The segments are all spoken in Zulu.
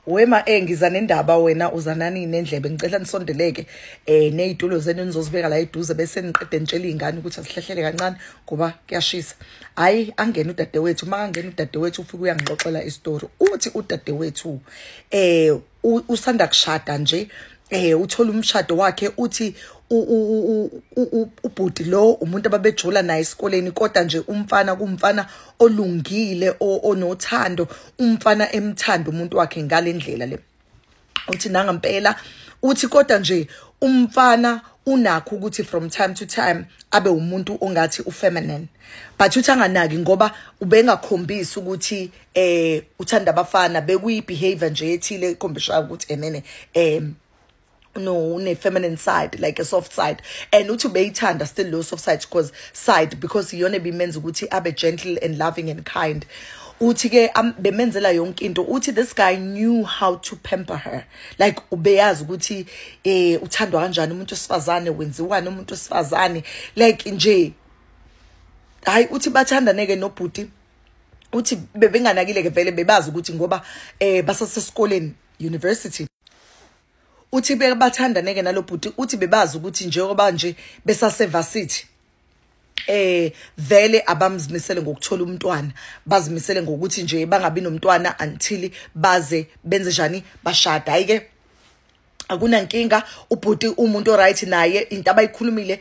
Wema eh ngiza nendaba wena uzanani nendlebe ngicela nisondeleke eh nezitulo zenu nizozibeka la eduze bese niqede nitshela izingane ukuthi asihlehlele kancane ngoba kuyashisa hayi angena udadewethu uma angena udadewethu ufike uyangixoxela istory uthi udadewethu eh usanda kushada nje eh uthola umshado wakhe uthi ubhuti lo umuntu ababejula naye esikoleni kodwa nje umfana kumfana olungile onothando umfana emthanda umuntu wakhe ngalendlela le uthi nanga mpela uthi kodwa nje umfana unakho ukuthi from time to time abe umuntu ongathi ufeminine but uthi anganaki ngoba ubengakhombisi ukuthi eh uthanda abafana bekuyi behavior nje ethile ekhombisha ukuthi emene eh no ne feminine side like a soft side and uthi beyithanda still low soft side because side because iyona ebimenza ukuthi abe gentle and loving and kind uthi ke bemenzela yonke into uthi this guy knew how to pamper her like ubeyazi ukuthi eh uthandwa kanjani umuntu osifazane wenziwani umuntu osifazane like nje hayi uthi bathandane ke nobhuti uthi bebenganakile ke vele bebazi ukuthi ngoba eh basasesikoleni university uthi bebathandaneke nalobhuti uthi bebazi ukuthi njengoba nje besaseva city eh vele abamzimisele ngokuthola umntwana bazimisele ngokuthi nje bangabi nomntwana until baze benze njani bashada ayike akunankinga ubhuti umuntu oright naye into abayikhulumile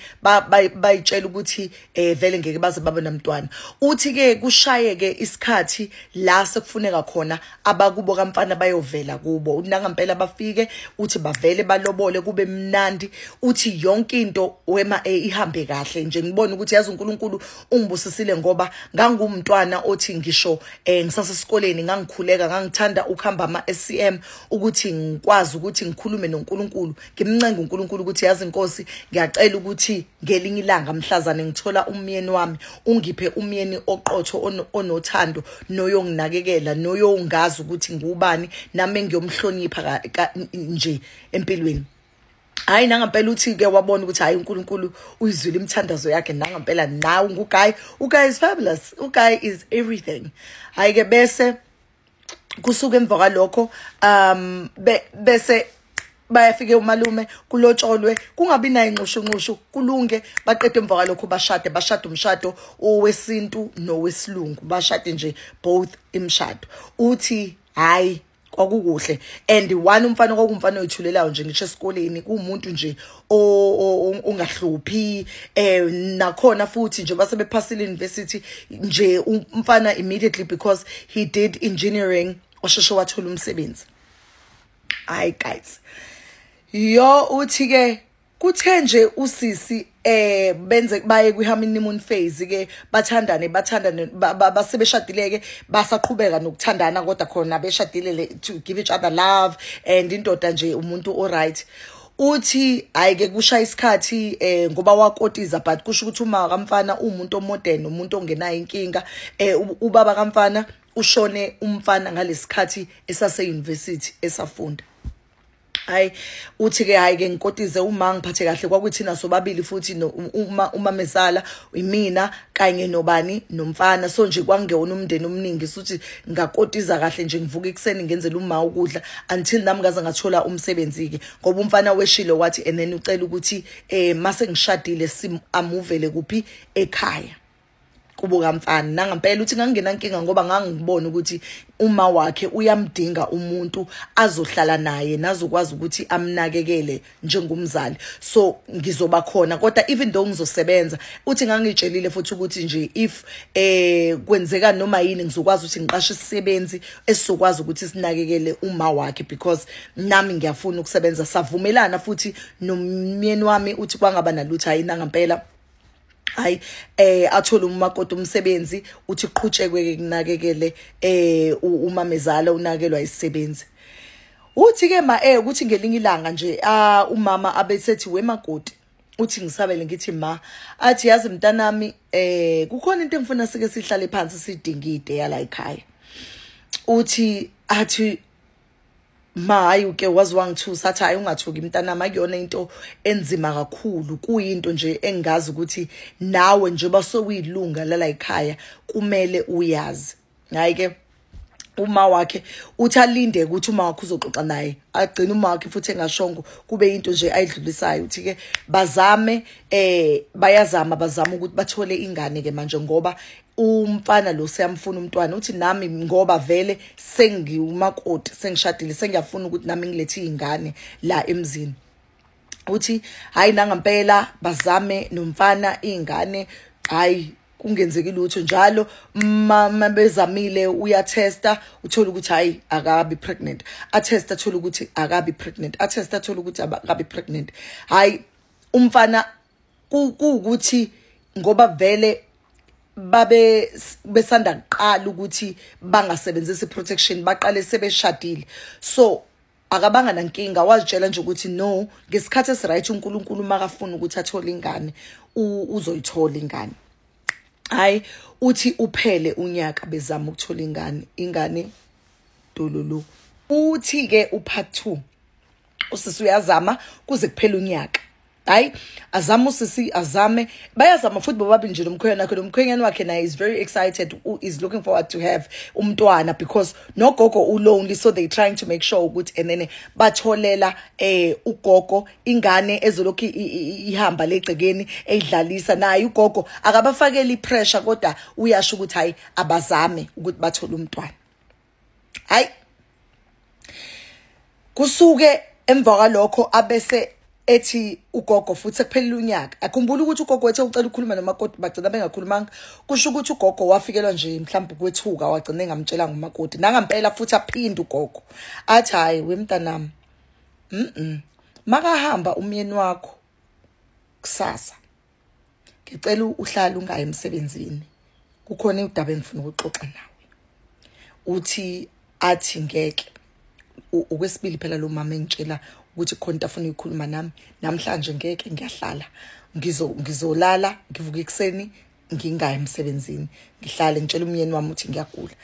bayitshela ukuthi eh vele ngeke baze babe namntwana uthi ke kushayeke isikhathi la sekufuneka khona abakubo kamfana bayovela kubo nangampela bafike uthi bavele balobole kube mnandi uthi yonke into wema e ihambe kahle nje ngibona ukuthi yazi uNkulunkulu ungibusisile ngoba ngangumntwana othi ngisho eh ngisasesikoleni ngangikhuleka ngangithanda ukuhamba ama SCM ukuthi ngikwazi ukuthi ngikhulume noNkulunkulu ngimncenga uNkulunkulu ukuthi yazi inkosi ngiyacela ukuthi ngelinye ilanga mhlazane ngithola umyeni wami ungiphe umyeni oqotho onothando noyonginakekela noyongazi ukuthi ngubani nami engiyomhlonipha nje empilweni hayi nangampela uthi ke wabona ukuthi hayi uNkulunkulu uyizwile imithandazo yakhe nangampela nawe nguguy uguy is fabulous uguy is everything hayi ke bese kusuke emva kwalokho um bese bayafike umalume kulotsholwe kungabi nayo inxushunxushu kulunge baqede emva kwalokho bashade bashade umshado owesintu nowesilungu bashade nje both imshado uthi hayi kwakukuhle and one umfana kwakumfana oyithulelayo nje ngisho esikoleni kuwumuntu nje ungahluphi eh nakhona futhi njengoba sebephasile university nje umfana immediately because he did engineering osheshe wathola umsebenzi hayi guys yo uthi ke kuthe nje usisi eh benze baye kwi honeymoon phase ke bathandane bathandane basebeshadileke basaqhubeka nokuthandana kodwa khona beshadile to give each other love and indoda nje umuntu o right uthi hayi ke kusha isikhathi eh ngoba wakotiza but kusho ukuthi uma kamfana umuntu omodern umuntu ongenayo inkinga eh ubaba kamfana ushone umfana ngalesikhathi esase university esafunda hayi uthi ke hayi ke ngikotize uma ngiphathe kahle kwakuthina sobabili futhi uma uma mesala imina kanye nobani nomfana so nje kwangewona umndeni omningi suthi ngakotiza kahle nje ngivuka ikuseni ngenzela uma ukudla until nami ngaze ngathola umsebenzi ke ngoba umfana weshile wathi and then ucela ukuthi eh mase ngishadile sim amuvele kuphi ekhaya kubo kamfana nangampela uthi ngangena nkinga ngoba ngangibona ukuthi uma wakhe uyamdinga umuntu azohlala naye nazokwazi ukuthi amnakekele njengomzali so ngizoba khona kodwa even though ngizosebenza uthi ngangitshelile futhi ukuthi nje if eh kwenzeka noma yini ngizokwazi ukuthi ngiqashe isisebenzi esizokwazi ukuthi sinakekele uma wakhe because nami ngiyafuna ukusebenza savumelana futhi nomyeni wami uthi kwangaba nalutho ayina ngempela hayi eh athole umakoti umsebenzi uthi qhutshekwe ke kunakekele eh umamezala unakelwa isisebenzi uthi ke ma eh ukuthi ngelinye ilanga nje ah umama abesethi wemakoti uthi ngisabele ngithi ma athi yazi mntanami eh kukhona into engifuna sike sihlale phansi sidingide yala ekhaya uthi athi ma hayi uke wazi wangithusa athi hayi ungathuki mntanami akuyona into enzima kakhulu kuyinto nje engazi ukuthi nawe njengoba sokuyilunga lala yikhaya kumele uyazi hayi ke uma wakhe uthi alinde ukuthi uma wakhe uzoxoxa naye agcine uma wakhe futhi engashongo kube into nje ayidlulisayo uthi ke bazame eh bayazama bazama ukuthi bathole ingane ke manje ngoba umfana lo siyamfuna umntwana uthi nami ngoba vele sengiwumakoti sengishadile sengiyafuna ukuthi nami ngilethe izingane la emzini uthi hayi nangampela bazame nomfana izingane hayi kungenzeki lutho njalo mama bezamile uyatesta uthola ukuthi hayi akabi pregnant atesta athola ukuthi akabi pregnant atesta athola ukuthi akabi pregnant hayi umfana kuwukuthi ngoba vele babe besanda kuqala ukuthi bangasebenzisi protection baqale sebeshadile so akabanga nankinga wazitshela nje ukuthi no ngesikhathi esiright uNkulunkulu makafuna ukuthi athole ingane uzoyithola ingane hayi uthi uphele unyaka bezama ukuthola ingane ingane dololo uthi ke upart 2 usisi uyazama kuze kuphela unyaka hayi azame usisi azame bayazama futhi bobabili nje lomkhwenyana wakhe lomkhwenyana wakhe naye is very excited u is looking forward to have umntwana because nogogo ulonely so they trying to make sure ukuthi and then batholela eh ugogo ingane ezolokhu ihamba legcekeni eyidlalisa naye ugogo akabafakeli pressure kodwa uyasho ukuthi hayi abazame ukuthi bathole umntwana hayi kusuke emva kwalokho abese ethi ugogo futhi sekuphelile unyaka akhumbula ukuthi ugogo wethe ucela ukukhuluma nomakoti bagcina bengakhulumanga kusho ukuthi ugogo wafikelwa nje mhlawumbe ukwethuka wagcina engamtshela ngumakoti nangampela futhi aphinde ugogo athi hhayi wemntanami mm makahamba umyeni wakho kusasa ngicela uhlala ungayi emsebenzini kukhona udaba engifuna ukuxoxa nawe uthi athi ngeke okwesibili phela lo mama engitshela ukuthi khona into afuna ukukhuluma nami namhlanje ngeke ngiyahlala ngizo ngizolala ngivuka ekseni ngingayi emsebenzini ngihlale ngitshela umyeni wami ukuthi ngiyagula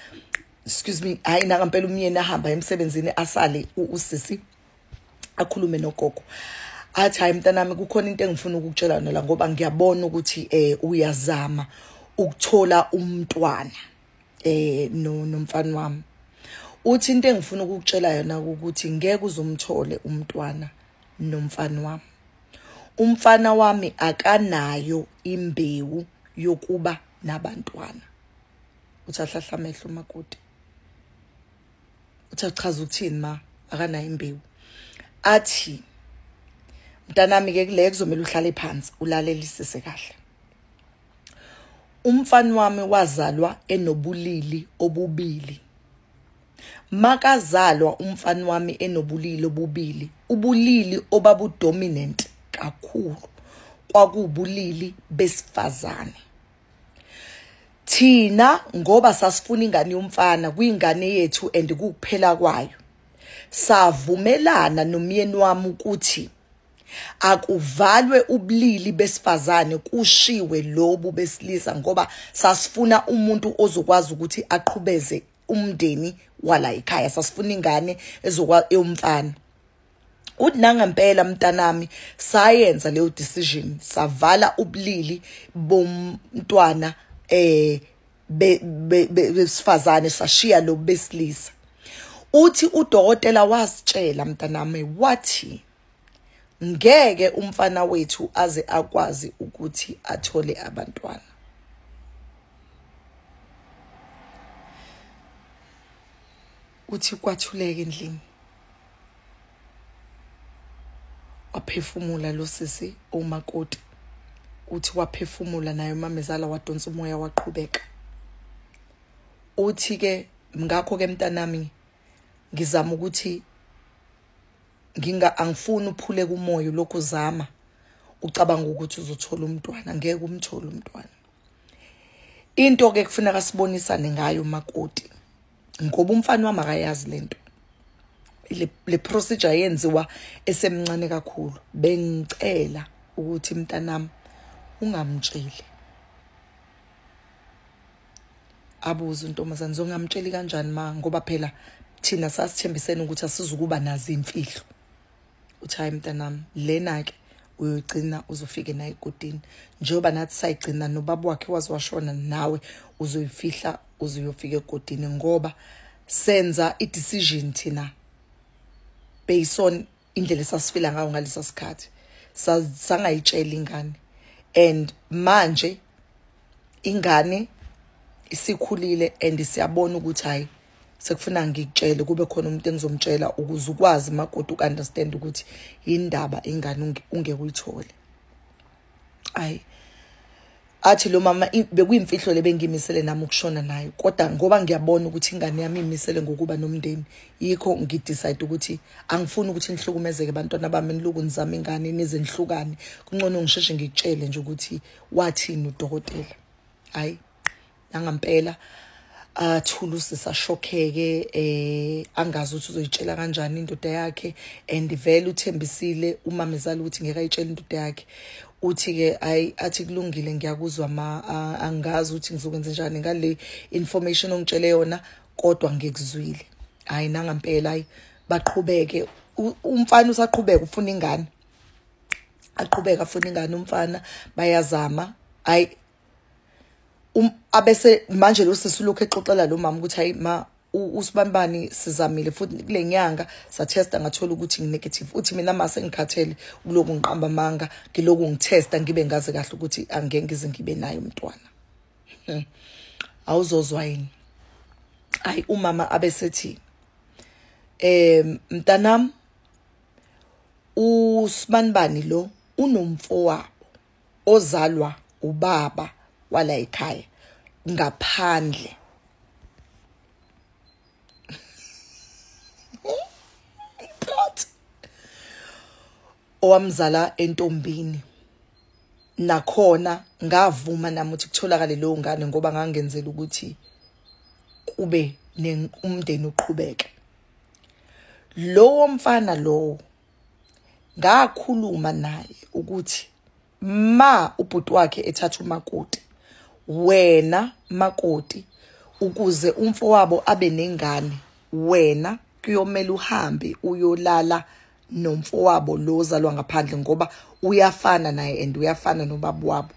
excuse me hayi nakampela umyeni ahamba emsebenzini asale usisi akhulume nogogo athi hayi mntanami kukhona into engifuna ukukutshela yona la ngoba ngiyabona ukuthi eh uyazama ukuthola umntwana eh no nomfana wami uthi into engifuna ukukutshela yona ukuthi ngeke uzomthole umntwana nomfana wami umfana wami akanayo imbewu yokuba nabantwana uthi ahlahla amehlo makoti uthi achaza ukuthini ma akanayo imbewu athi mntanami ke kule kuzomela uhlale phansi ulalelisise kahle umfana wami wazalwa enobulili obubili makazalwa umfana wami enobulili obubili ubulili obabudominant kakhulu kwakuwubulili besifazane thina ngoba sasifuna ingane yomfana kwingane yethu and kukuphela kwayo savumelana nomyeni wami ukuthi akuvalwe ubulili besifazane kushiwe lobu besilisa ngoba sasifuna umuntu ozokwazi ukuthi aqhubeze umndeni wala ekhaya sasifuna ingane ezokwa eyomfana uthi nangempela mntanami sayenza leyo decision savala ubulili bomntwana eh besifazane sashiya lo besilisa uthi udokotela wasitshela mntanami wathi ngeke umfana wethu aze akwazi ukuthi athole abantwana uthi kwathuleke endlini waphefumula lo sisi omakoti uthi waphefumula naye umamezala wadonsa umoya waqhubeka uthi ke ngakho ke mntanami ngizama ukuthi nginga angifuni uphule kumoya lokhu zama ucabanga ukuthi uzothola umntwana ngeke umthole umntwana into ke kufuneka sibonisane ngayo makoti ngoba umfana wami akayazi lento le, le procedure yenziwa esemncane kakhulu bengicela ukuthi mntanami ungamtsheli abuze untombazane zongamtsheli kanjani ma ngoba phela thina sasithembisene ukuthi asizukuba nazi imfihlo uthi hayi mntanami lena-ke uyoyigcina uzofike naye ekotini njengoba nathi sayigcina nobaba wakhe waze washona nawe uzoyifihla uze uyofika ekotini ngoba senza i-decision thina based on indlela esasifila ngayo ngalesa sikhathi sangayitshela ingane and manje ingane isikhulile and siyabona ukuthi hayi sekufuna ngikutshele kube khona umuntu engizomtshela ukuze ukwazi magoda ukunderstand ukuthi indaba ingane ungeke uyithole ayi athi lo mama bekuyimfihlo lebengimisele nami ukushona naye kodwa ngoba ngiyabona ukuthi ingane yami imisele ngokuba nomndeni yikho ngidecide ukuthi angifuni ukuthi nihlukumezeke bantwana bami niluku nizama ingane nize nihlukane kuncono ngisheshe ngikutshele nje ukuthi wathini udokotela hayi nangampela athule usisa shokheke eh angazi ukuthi uzoyitshela kanjani indoda yakhe and vele uthembisile umamezala ukuthi ngeke ayitshele indoda yakhe uthi ke ayi athi kulungile ngiyakuzwa ma angazi ukuthi ngizokwenza njani ngale information ongitshele yona kodwa ngikuzwile hayi nangampela hayi baqhubeke umfana usaqhubeka ufuna ingane aqhubeka afuna ingane umfana bayazama hayi um abese manje lo sisi lokho exoxela lo mama ukuthi hayi ma usibanibani sizamile futhi kule nyanga sathesta ngathola ukuthi nginegative uthi mina ma sengikhathele kuloku ngiqamba amanga ngiloku ngithesta ngibe ngazi kahle ukuthi angeke ngize ngibe naye umntwana hmm. awuzozwa yini ayi umama abesethi eh mntanam usibanibani lo unomfowabo ozalwa ubaba wala ekhaya ngaphandle plot owamzala entombini nakhona ngavuma nami ukuthi kutholakale leyo ngane ngoba ngangenzela ukuthi kube umndeni uqhubeke lowo mfana lowo ngakhuluma naye ukuthi ma ubhuti wakhe ethatha umakoti wena makoti ukuze umfowabo abe nengane wena kuyomela uhambe uyolala nomfowabo lo ozalwa ngaphandle ngoba uyafana naye and uyafana nobaba wabo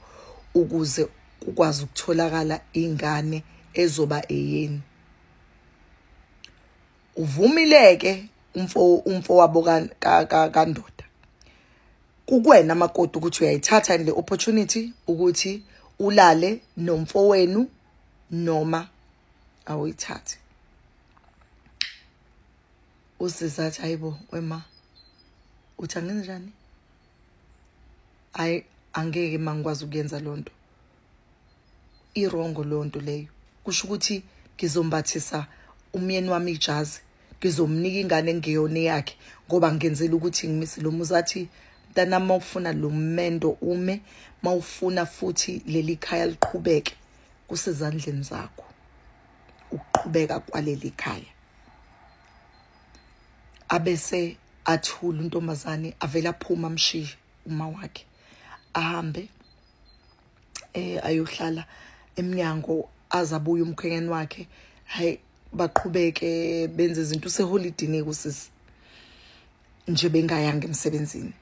ukuze kukwazi ukutholakala ingane ezoba eyeni uvumileke umfo umfo wabo kandoda kukwena makoti ukuthi uyayithatha le opportunity ukuthi ulale nomfowenu noma awuyithathe usizathi hayibo wema uthi angenzenjani hayi angeke mangikwazi ukuyenza loo nto irongo lonto leyo kusho ukuthi ngizombathisa umyeni wami ijazi ngizomnika ingane engeyona yakhe ngoba ngenzela ukuthi ngimise lo muzathi mntana mawufuna lo mendo ume mawufuna futhi leli khaya liqhubeke kusezandleni zakho ukuqhubeka kwaleli khaya abese athula untombazane avela phuma amshiye uma wakhe ahambe eh ayohlala emnyango azabuye umkhwenyeni wakhe hayi baqhubeke benze izinto useholidini kusisi nje bengayanga emsebenzini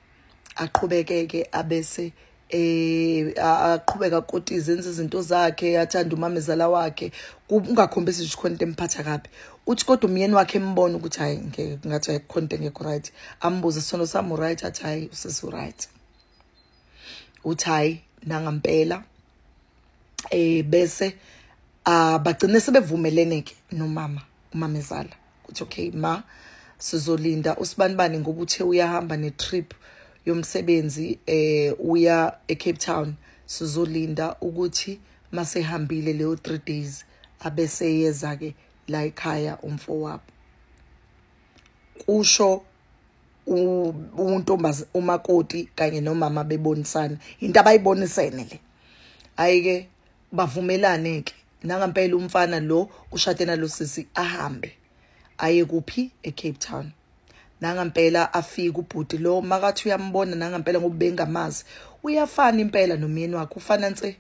aqhubeke ke abese eh aqhubeka koti izenza izinto zakhe athanda umamezala wakhe kungakhombisi ukuthi khona into emphatha kabi uthi kodwa umyeni wakhe embona ukuthi hayi ngathi ayikho into engekho right ambuze sono samu right athi hayi usisi right uthi hayi nangampela eh bese abagcine ah, sebevumelene ke nomama umamezala uthi okay ma sizolinda usibanibani ngoba uthe uyahamba ne trip yomsebenzi eh uya eCape Town sizolinda ukuthi masehambile leyo 3 days abese yeza ke la ekhaya umfowabo kusho untombazi umakoti kanye nomama bebonisana into abayibonisene le ayike bavumelane ke nangampela umfana lo ushade nalosisi ahambe aye kuphi eCape Town nangampela afike ubhuti lo makathi uyambona nangampela ngoba bengamazi uyafana impela nomyeni wakhe ufana nse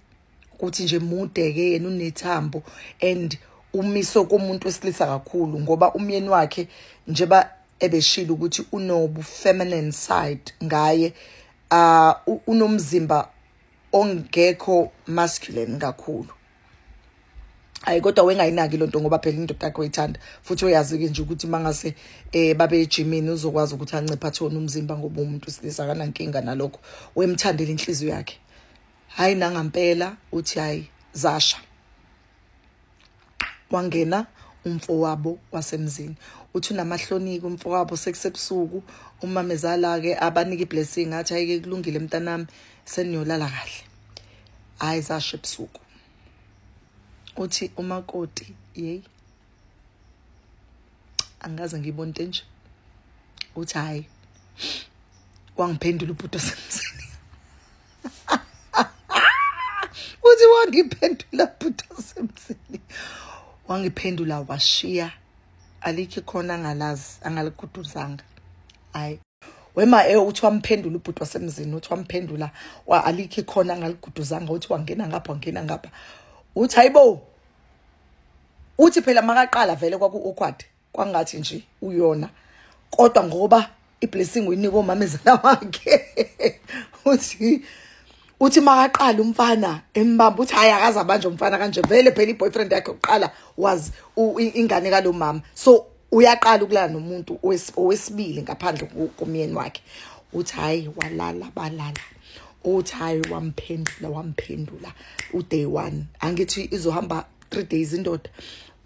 ukuthi nje mude ke yena unethambo and umiso komuntu wesilisa kakhulu ngoba umyeni wakhe njeba ebeshilo ukuthi unobu feminine side ngaye uh unomzimba ongekho masculine kakhulu ayi kodwa wengayinaki lonto ngoba phela indoda yakhe uyithanda futhi uyazi ke nje ukuthi mangase eh babe ejimini uzokwazi ukuthi ancipha athona umzimba ngoba umuntu silisa kanankinga nalokho wemthandela inhliziyo yakhe hayi nangampela uthi hayi zasha wangena umfowabo wasemzini uthi unamahloniko umfowabo sekusebusuku umamezala ke abanika iblessing athi ayike kulungile mntanami seniyolala kahle hayi zashe ebusuku uthi umakoti yey angaze ngiyibona into enje uthi hayi wangiphendula ubhuti wasemzini uthi wangiphendula bhuti osemzini wangiphendula washiya alikho khona angalazi angalikuduzanga hayi wema e uthi wamphendula ubhuti wasemzini uthi wamphendula wa alikho khona angaliguduzanga uthi wangena ngapha wangena ngapha uthi hayibo uthi phela makaqala vele kwaku awkward kwangathi nje uyona kodwa ngoba iblessing uyinika omamezala wakhe uthi uthi makaqala umfana embamba uthi hayi akaza manje umfana kanje vele phela iboyfriend yakhe uqala was ingane kalomama so uyaqala ukulala nomuntu owesibili ngaphandle komyeni wakhe uthi hayi walala balala uthi hayi wamphendula wamphendula uday one angithi izohamba three days indoda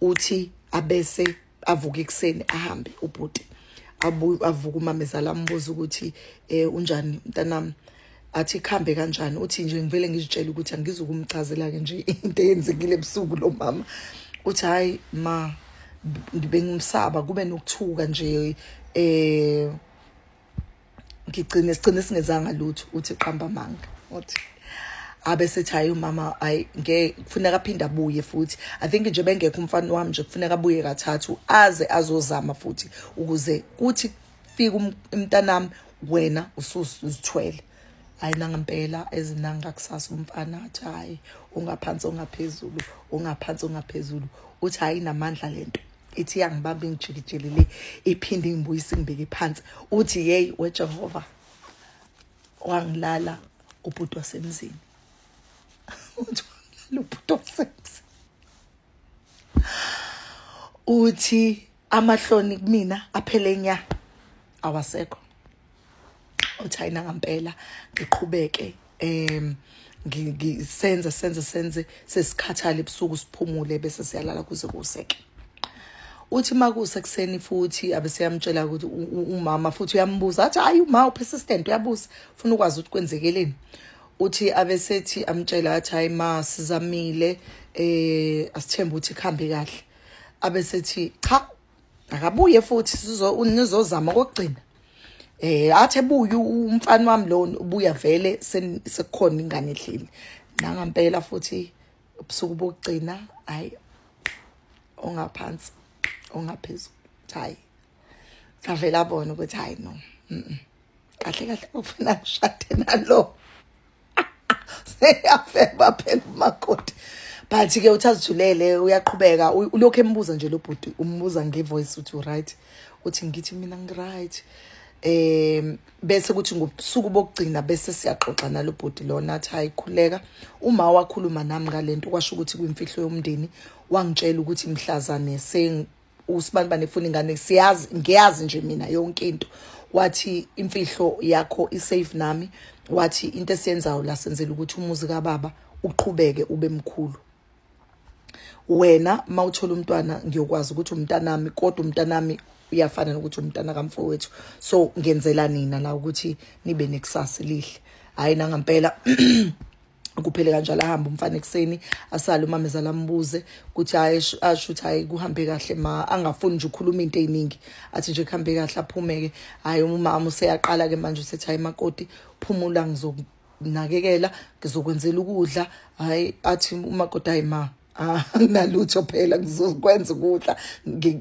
uthi abese avuka ekuseni ahambe ubhuti avuka umamezala ambuza ukuthi eh unjani mntanami athi ikhambe kanjani uthi nje ngivele ngizitshela ukuthi angizukumchazela ke nje into eyenzekile ebusuku lo mama uthi hayi ma bengimsaba kube nokuthuka nje eh ngigcine sigcine singezanga lutho uthi qamba manga uthi abe sethi hayi umama hayi ngeke kufuneka aphinde abuye futhi i think nje bengekho umfana wami nje kufuneka abuye kathathu aze azozama futhi ukuze kuthi fika um, umntanami wena usuzithwele hayi nangampela ezinanga kusasa umfana athi hayi ungaphansi ongaphezulu ungaphansi ongaphezulu uthi hayi namandla lento ithi yangibamba ingijikijele le iphinde ingibuyise ngibeke phansi uthi yeyi wejehova wangilala ubhuti wasemzini uthi wangilala ubhuti wasemzini uthi amahloni kumina aphele nya awasekho uthi ayina ngampela ngiqhubeke um ngisenze senze senze sesikhathale ebusuku siphumule bese siyalala kuze kuseke uthi makuse kuseni futhi abeseyamtshela ukuthi umama futhi uyambuza athi hayi uma upersistent uyabuza ufuna ukwazi ukuthi kwenzekeleni uthi abesethi amtshela athi hayi ma sizamile eh asithemba ukuthi kuhambe kahle abesethi cha akabuye futhi nizozama kokugcina eh athi ebuye umfana wami lo ubuya vele sekukhona ingane edlile nangampela futhi ubusuku bokugcina hayi ongaphansi ongaphezulu hayi avela bona ukuthi hayi no kahle kahle ufuna ngishade nalo seyafeba phela umakoti but ke uthi azithulele uyaqhubeka ulokhu embuza nje lo bhuti umbuza ngevoice uthi right uthi ngithi mina ngiright um bese kuthi ngobusuku bokugcina bese siyaxoxa nalo bhuti lona athi hayi khuleka uma wakhuluma nami ngalento kwasho ukuthi kwimfihlo yomndeni wangitshela ukuthi mhlazane usibani banefuna ingane siyazi ngiyazi nje mina yonke into wathi imfihlo yakho isafe nami wathi into esiyenzayo la senzela ukuthi umuzi kababa uqhubeke ube mkhulu wena mawuthola umntwana ngiyokwazi ukuthi umntanami kodwa umntanami uyafana nokuthi umntana kamfowethu so ngenzela nina la ukuthi nibe nekusasa lihle hayi nangampela kuphele kanjalo ahambe umfana ekuseni asale umamezala ambuze ukuthi asho ukuthi hayi kuhambe kahle ma angafuni nje ukhuluma into eziningi athi nje kuhambe kahle aphumeke hayi umama useyaqala ke manje usethi hayi makoti phumula ngizokunakekela ngizokwenzela ukudla hayi athi umakoti hayi ma ah, anginalutho phela ngizokwenza ukudla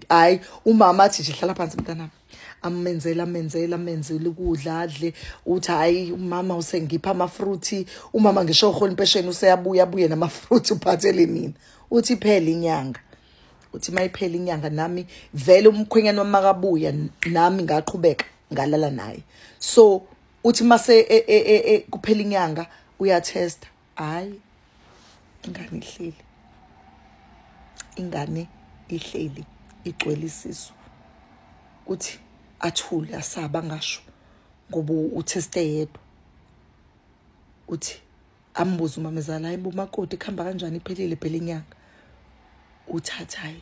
hayi umama athi nje hlala phansi mntanami amenzela amenzela amenzela ukudla adle uthi hayi umama usengipha amafruthi umama ngisho uhola impesheni useyabuya abuye namafruthi uphathele mina uthi phela inyanga uthi mayiphela inyanga nami vele umkhwenyana wamakabuya nami ngaqhubeka ngalala naye so uthi mase e, e, e, kuphela inyanga uyatesta hayi ingane ihleli ingane ihleli igcwele isisu kuthi athule asaba ngasho ngoba uthe site yedwa uthi ambuze umamezala hayi bo makoti kuhamba kanjani iphelile phela inyanga uthathayi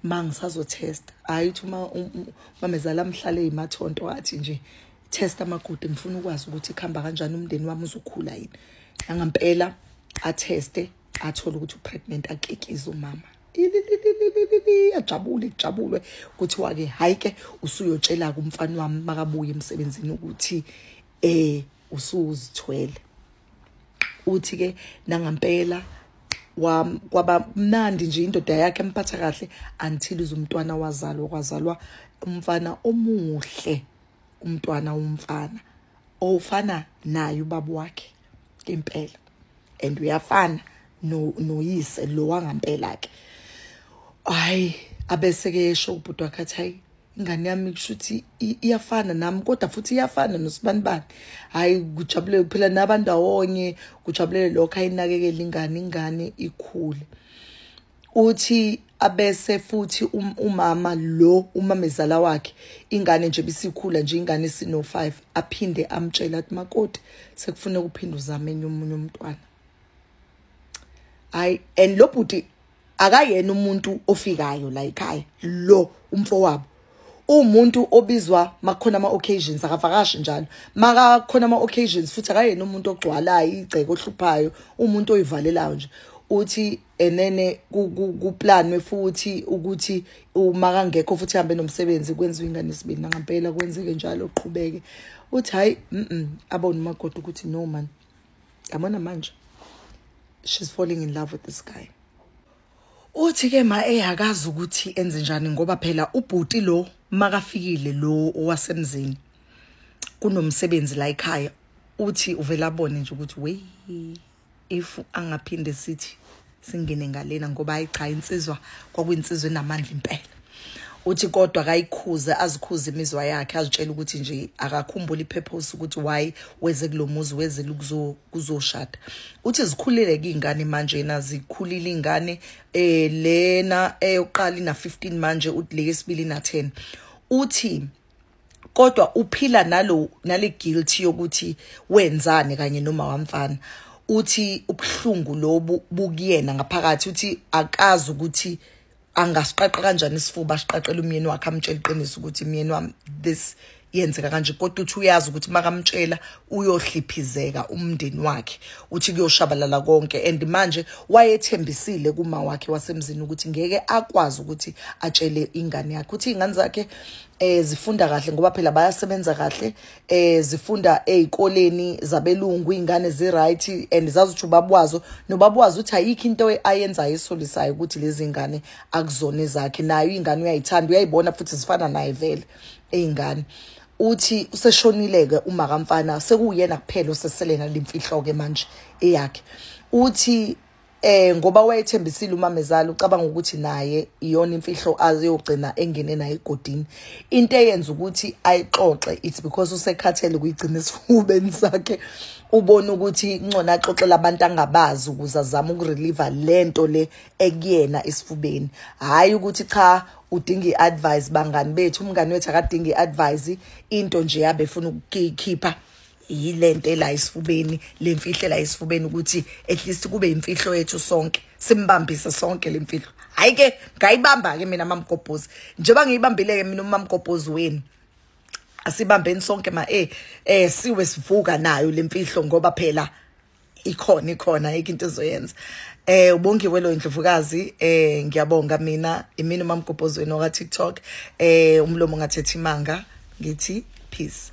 ma ngisazotesta hhayi ukuthi uma um, um, umamezala mhlale yimathonto athi nje testa amagude ngifuna ukwazi ukuthi kuhamba kanjani umndeni wami uzokhula yini nangampela atheste athole ukuthi upregnant akekize umama ajabule kujabulwe kuthiwa ke hayi ke usuyotshela kumfana wami makabuye emsebenzini ukuthi eh usuzithwele uthi ke nangampela kwaba mnandi nje indoda yakhe emphatha kahle until izumntwana wazalwa kwazalwa umfana omuhle umntwana umfana ofana naye ubaba wakhe impela and uyafana no noyise lo wangampela ke hayi abese ke esho ubhuti wakhe athi hayi ingane yami kusho ukuthi iyafana nami kodwa futhi iyafana nosibanibani hhayi kujabulele kuphela nabantu awonye kujabulele lokho ayinakekele ingane ingane ikhule uthi abese futhi um, umama lo umamezala wakhe ingane nje bisikhula nje ingane sino 5 aphinde amtshela ukuthi makoti sekufuneka uphinde uzame enye umunye umntwana hayi and lo bhuti akayena umuntu ofikayo la ekhaya lo umfowabo umuntu obizwa makukhona ama-occasions akavakashi njalo makakhona ama-occasions futhi akayena umuntu ogcwalayo igceke ohluphayo umuntu oyivalelayo nje uthi enene kuplanwe futhi ukuthi uma kangekho futhi hambe nomsebenzi kwenziwa ingane isibini nangampela kwenzeke njalo uqhubeke uthi hhayi abone umagoda ukuthi no mani yabona manje she's falling in love with this guy uthi ke ma eyakazi ukuthi enze njani ngoba phela ubhuti lo makafikile lo owasemzini kunomsebenzi la ekhaya uthi uvela abone nje ukuthi wey if angaphinde sithi singene ngalena ngoba hayi cha insizwa kwakuyinsizwa enamandla impela uthi kodwa akayikhuze azikhuze imizwa yakhe azitshela ukuthi nje akakhumbula ipurpose ukuthi why weze kulomuzi weze kuzoshada uthi zikhulile kingane manje na zikhulile ingane eh lena eyoqala ina 15 manje uthi leyesibili na 10 uthi kodwa uphila nalo nale guilt yokuthi wenzani kanye noma wamfana uthi ubuhlungu lobu bukuyena ngaphakathi uthi akazi ukuthi angasiqaqa kanjani isifuba asiqaqele umyeni wakhe amtshela iqiniso ukuthi myeni wami this yenzeka kanje kodwa uthi uyazi ukuthi makamtshela uyohliphizeka umndeni wakhe uthi kuyoshabalala konke and manje wayethembisile kuma wakhe wasemzini ukuthi ngeke akwazi ukuthi atshele ingane yakhe uthi ingane zakhe eh zifunda kahle ngoba phela bayasebenza kahle eh zifunda ezikoleni zabelungu ingane zi right and zazuthi ubabwazo nobabwazo uthi ayikho into ayenzayo esolisayo ukuthi lezi ngane akuzona zakhe nayo ingane uyayithanda uyayibona futhi zifana naye vele ezingane uthi useshonileke uma kamfana sekuyena kuphela oseselena limfihlo ke manje eyakhe uthi eh ngoba wayethembisile umamezala ucabanga ukuthi naye iyona imfihlo aziyogcina engene naye egodini into eyenza ukuthi ayixoxe it's because usekhathele kuyigcina esifubeni sakhe ubona ukuthi incona axoxela abantu angabazi ukuze azame ukurelieve lento le ekuyena esifubeni hayi ukuthi cha udinga iadvice bangani bethu umngani wethu akadinga iadvice into nje yabe efuna ukukhipha yilento la isifubeni lemfihle la isifubeni ukuthi at least kube imfihlo yethu sonke simbambise sonke lemfihlo hayi ke ngayibamba ke mina mamgobhozi njengoba ngiyibambile ke mina umamgobhozi wenu asibambeni sonke ma eh eh siwe sivuka nayo lemfihlo ngoba phela ikhona ikhona yike into ezoyenza eh ubongiwe lo indlovukazi eh ngiyabonga mina imini mamgobhozweni oka TikTok eh umlomo ngathetha imanga ngithi peace